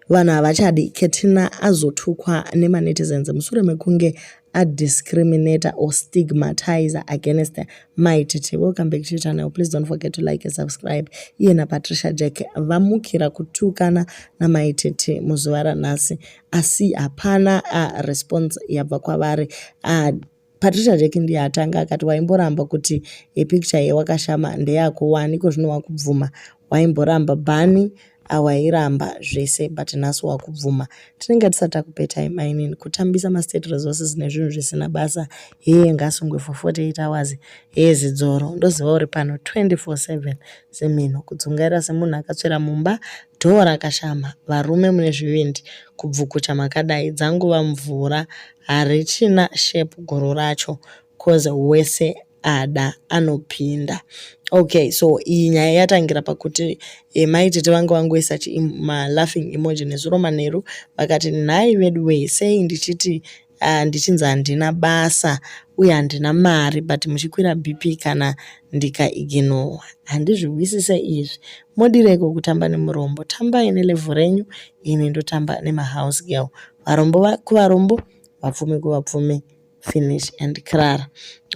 vanhu havachadi ketina azotukwa nemanetizens mushure mekunge adiscriminator or stigmatizer against mai titivo come back to channel please don't forget to like and subscribe iye napatricia jack vamukira kutukana namai tete muzuva ranhasi asi hapana uh, response yabva kwavari uh, Patricia Jack ndiye atanga akati waimboramba kuti a picture yewakashama ndeyako wani ikozvino wakubvuma waimboramba bani awairamba zvese but nhasi wakubvuma tinenge tisati takupetai mainini kutambisa mastate resources nezvinhu zvisina basa heye ngasungwe for 48 hours heye zidzoro ndoziva uri pano 24/7 semino kudzungaira semunhu akatsvera mumba Door rakashama varume mune zvivindi kubvukucha makadai dzangova mvura harichina shape guru racho coz wese ada anopinda ok so iyi nyaya yatangira pakuti eh, mai tete vange vangoisa malaughing emoji nezuro manheru vakati nhai veduwee sei ndichiti uh, ndichinzi handina basa uye handina mari but muchikwira bp kana ndikaiginowa handizvihwisise izvi modireiko kutamba nemurombo tambai nelevhu renyu ini ndotamba nemahouse girl varombo kuvarombo vapfumi kuvapfumi finish and crara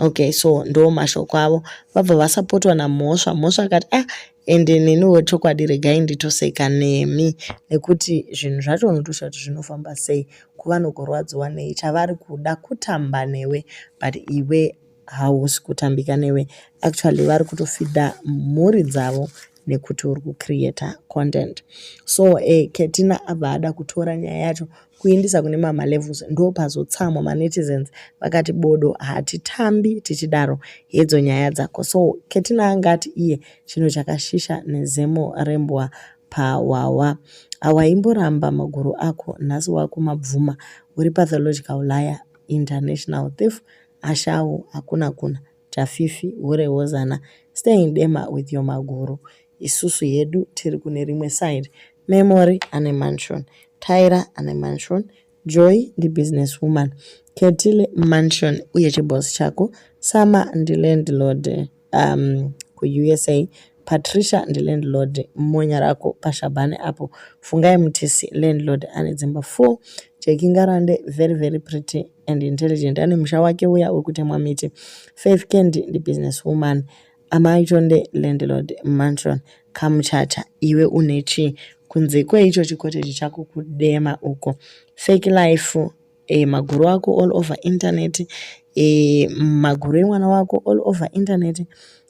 okay so ndo mashoko avo vabva vasapotwa namhosva mhosva akati ah and neniwo chokwadi regai nditoseka nemi nekuti zvinhu zvacho unotosha kuti zvinofamba sei kuva nokurwadziwa nei chavari kuda kutamba newe but iwe hausi kutambika newe actually vari kutofida mhuri dzavo nekuti uri kucreata content so e eh, ketina abva ada kutora nyaya yacho kuindisa kune mama levels ndopazotsamwa manetizens vakati bodo hatitambi tichidaro hedzo nyaya dzako so ketina anga ati iye chinhu chakashisha nezemo rembwa pahwahwa awaimboramba maguru ako nhasi wakumabvuma uri pathological liar international thief ashawo hakuna kuna Tafifi hure wozana stay in dema with your maguru isusu hedu tiri kune rimwe side Memory ane mansion Tyra ane mansion Joy ndi business woman Ketile mansion uye chiboss chako Sama ndi landlord um, kuUSA Patricia ndi landlord monya rako pashabhane apo Fungai Mutisi landlord ane dzimba 4 Jeki Ngarande very very pretty and intelligent ane musha wake uya wekutemwa miti faith candy ndibusiness woman amai tonde landlord mansion kamuchacha iwe une chii kunze kweicho chikoteji chako kudema uko fake life e, maguru ako all over internet e, maguru emwana wako all over internet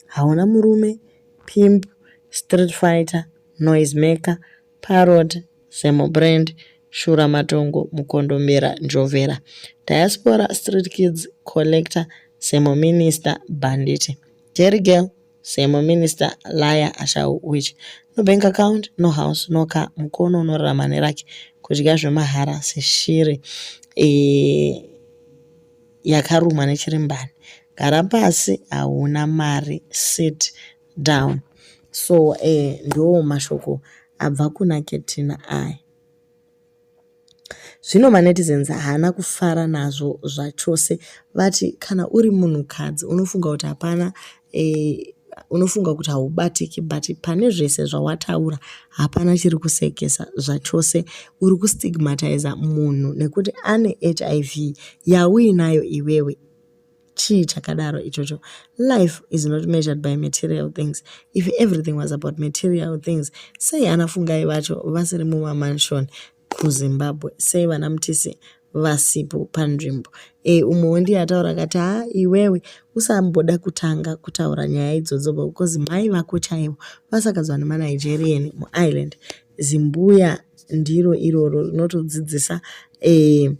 hauna murume pimp street fighter noise maker Parrot, Zemo Brand, Shura Matongo, Mukondombera, Njovera, Diaspora, Street Kids, Collector, Zemo Minister, Banditi, Jerry Girl, Zemo Minister, Laya, Ashau, Witch, No Bank Account, No House, No Car, Mukono unorarama nerake, kudya zvemahara seshiri e, yakarumwa nechirimbani, gara pasi, hauna mari, sit, down so eh, ndo mashoko abva kuna ketina aya zvino manetizens haana kufara nazvo zvachose vati kana uri munhukadzi unofunga kuti hapana eh, unofunga kuti haubatiki but pane zvese zvawataura hapana chiri kusekesa zvachose uri kustigmatiza munhu nekuti ane hiv yauinayo iwewe chii chakadaro ichocho life is not measured by material things if everything was about material things sei ana fungai vacho vasiri mumamansion kuzimbabwe sei vana mutisi vasipo panzvimbo e umwewo ndiye ataura kati haa iwewe usamboda kutanga kutaura nyaya idzodzo because mai vako chaivo vasakadzwa nemanigerian muireland zimbuya ndiro iroro rinotodzidzisa e,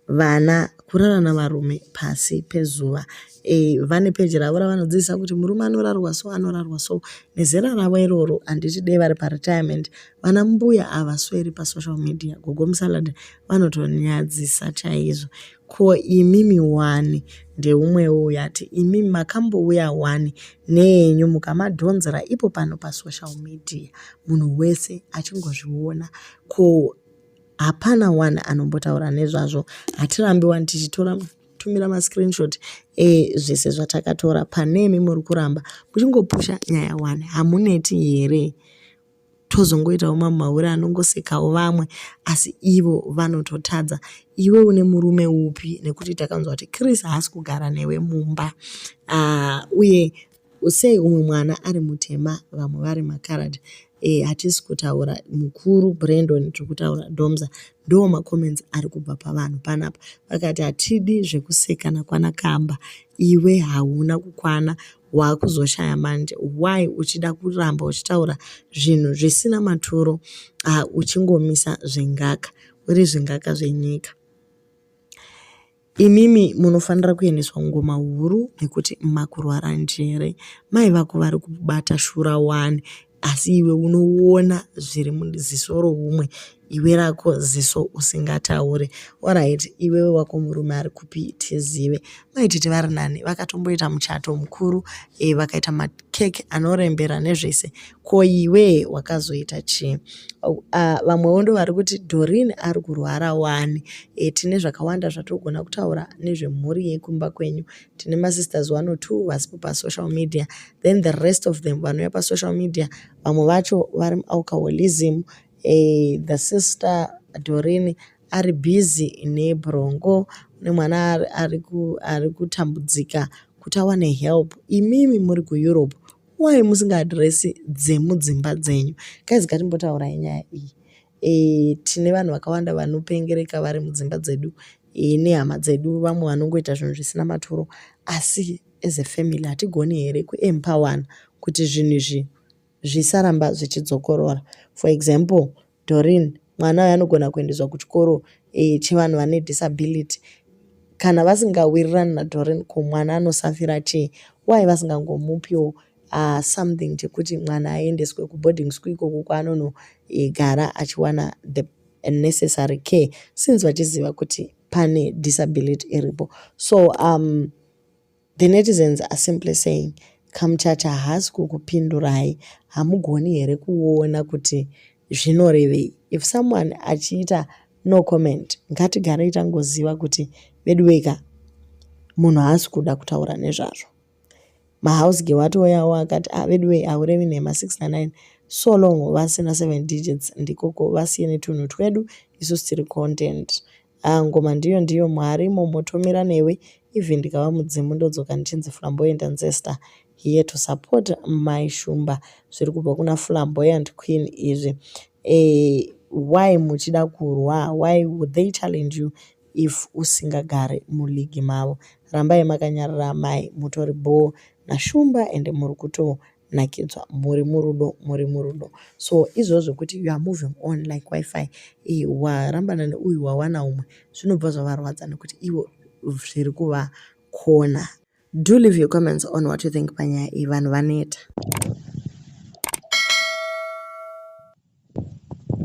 Vana kurara navarume pasi pezuva e, vane peji ravo ravanodzidzisa kuti murume anorarwa so anorarwa so nezera ravo iroro handiti dei vari paretirement vana mbuya havasweri pasocial media gogo musalad vanotonyadzisa chaizvo ko imimi wani ndeumwewo uyo ati imimi makambouya wani neenyu mukamadhonzera ipo pano pasocial media munhu wese achingozviona ko hapana one anombotaura nezvazvo hatirambi wani tichitora tumira mascreenshot ezvese zvatakatora panemi muri kuramba muchingopusha nyaya one hamuneti here tozongoitawo mamwe mahure anongosekawo vamwe asi ivo vanototadza iwe une murume upi nekuti takanzwa kuti chris haasi kugara newe mumba uh, uye Sei umwe mwana ari mutema vamwe vari macoloured eh hatisi kutaura mukuru Brendon tiri kutaura Domza ndoo macomments ari kubva pavanhu panapa vakati hatidi zvekusekana kwana Kamba iwe hauna kukwana waakuzoshaya manje why uchida kuramba uchitaura zvinhu zvisina maturo uh, uchingomisa zvengaka uri zvengaka zvenyika Imimi munofanira kuendeswa kungoma huru nekuti makurwara njere. Mai vako vari kubata shura wani asi iwe unoona zviri muziso roumwe iwe rako ziso usingataure orit iwewe wako murume ari kupi tizive maititi vari nani vakatomboita muchato mukuru e, vakaita makeke anorembera nezvese ko iwe wakazoita chii uh, vamwewo ndo vari kuti dorin ari kurwara wani e, tine zvakawanda zvatogona kutaura nezvemhuri yekumba kwenyu tine masisters one or two vasipo pasocial media then the rest of them vanouya pasocial media vamwe vacho vari mualcoholism e, the sister dorin ari busy nebrongo nemwana ari kutambudzika kuti awane help imimi muri kueurope why musingaadresi dzemudzimba dzenyu guys ngatimbotaurai nyaya iyi e, tine vanhu vakawanda vanopengereka vari mudzimba dzedu e, nehama dzedu vamwe vanongoita zvinhu zvisina maturo asi as a family hatigoni here kuempowana kuti zvinhu izvi zvisaramba zvichidzokorora for example Doreen, mwana uyu anogona kuendeswa kuchikoro eh, chevanhu vane disability. Kana vasingawirirani naDoreen ko mwana anosafira chii? Why vasingangomupiwo uh, something chekuti mwana aendeswe kuboarding school ikoko kwaanonogara eh, achiwana the necessary care since vachiziva kuti pane disability iripo so um, The netizens are simply saying kamuchacha haasi kukupindurai hamugoni here kuona kuti zvinorevei if someone achiita no comment ngatigarei tangoziva kuti veduweka munhu haasi kuda kutaura nezvazvo mahouse ge watoyawo akati ah, veduwei aurevi nhema 69 so long vasina 7 digits ndikoko vasiye netunhu twedu isu siri content Haa ngoma ndiyo ndiyo Mwari momo tomira newe even ndikava mudzimu ndodzoka ndichinzi flamboyant ancestor here to support mai Shumba zviri kubva kuna flamboyant queen izvi eh, why muchida kurwa why would they challenge you if usingagare muligi mavo rambai makanyarara mai mutori bhoo nashumba ende muri kuto nakidzwa muri murudo muri murudo so izvozvo kuti you are moving on like wifi eh, warambana neuyu wawana umwe zvinobva zvavarwadza nekuti ivo zviri kuvakona do leave your comments on what you think panyaya iyi vanhu vaneta